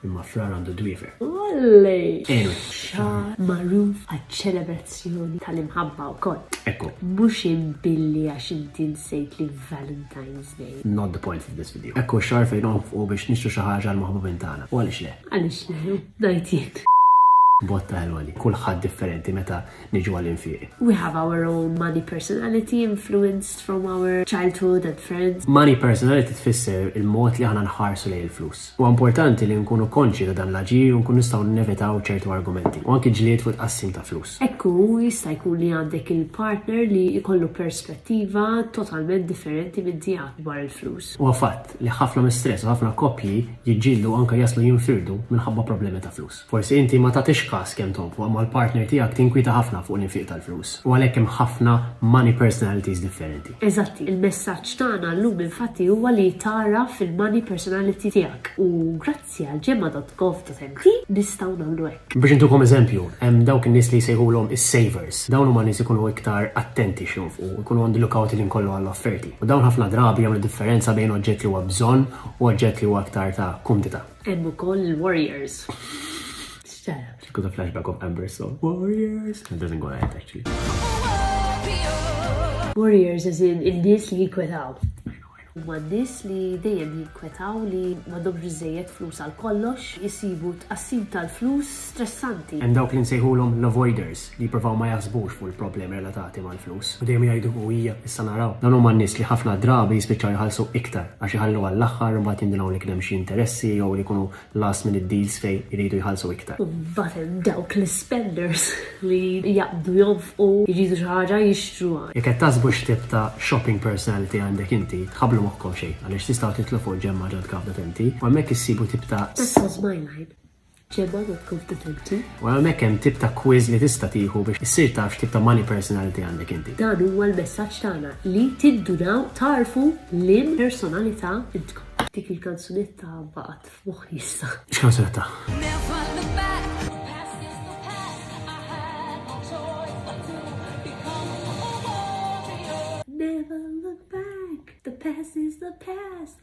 Imma frar għandu dwiefer. Olli! Enu. Xar magħruf għaċ-ċelebrazzjoni tal-imħabba wkoll. Ekku. Mhux imbilli għax inti nsejt li Valentine's Day. Not the point of this video. Ekku xar fejn u biex nixtru xi ħaġa l-maħbubin tagħna. U għaliex le? Għaliex le? Ngħid jien. Botta ħelwali, kulħadd differenti meta niġu għal infiq. We have our own money personality influenced from our childhood and friends. Money personality tfisser il-mod li aħna nħarsu lejn il-flus. Huwa importanti li nkunu konxji ta' dan l-aġir u nkunu nistgħu nevitaw ċertu argumenti, u anki ġlied fuq it-tqassim ta' flus. Hekk hu, jista' jkun li għandek il-partner li jkollu perspettiva totalment differenti minn tiegħek dwar il-flus. Huwa fatt li ħafna mistress u ħafna koppji jiġġieldu u anke jaslu jinfirdu minħabba problemi ta' flus. Forsi inti ma tagħtix kas kemm tonfoq imma l-partner tiegħek tinkwieta ħafna fuq l-infiq tal-flus u għalhekk hemm ħafna money personalities differenti. Eżatti, il-messaġġ tagħna llum infatti huwa li tagħraf il-money personality tiegħek u grazzi għal ġemma dot gov dot mt nistgħu nagħmlu hekk. Biex intukom eżempju, hemm dawk in-nies li jsejħulhom is-savers. Dawn huma nies ikunu iktar attenti x'jonfqu, ikunu on the look out il-ħin kollu għall-offerti. U dawn ħafna drabi jagħmlu differenza bejn oġġett li huwa bżonn u oġġett li huwa aktar ta' kumdità. Hemm ukoll il-Warriors. Kuta flashback of Amber so Warriors. It doesn't go like actually. Warriors as in il-nies li jikwetaw. Ma nis li dejjem jikwetaw li ma dobx biżejjed flus għal kollox, jisibu tqassim tal-flus stressanti. Hemm dawk li nsejħulhom l-avoiders, li jippruvaw ma jaħsbux fuq il-problemi relatati mal-flus, u dejjem jgħidu hu hija, issa naraw. Dawn huma n-nies li ħafna drabi jispiċċaw jħallsu iktar, għax iħallu għall-aħħar u mbagħad jindunw li kien hemm xi interessi jew li jkunu last minute deals fejn iridu jħallsu iktar. U mbagħad hemm dawk l-ispenders li jaqbdu jonfqu, jridu xi ħaġa, jixtruha. Jekk qed taħsbu x'tip ta' shopping personality għandek inti, tħabblu moħħkom xejn, għaliex tistgħu titlu fuq ġemma ġodka f'datenti, u hemmhekk issibu tip ta'. That's all smile line. Ġebha u approve the turkey. U hemmhekk hemm tip ta' quiz li tista' tieħu biex issir taf x'tip ta' money personality għandek inti. Dan huwa l-messaġġ tagħna li tindunaw tagħrfu liem personalità intkom. Dik il-kanzunetta baqgħet f'moħħi issa. X'kanzunetta? Never look back, the past is the past,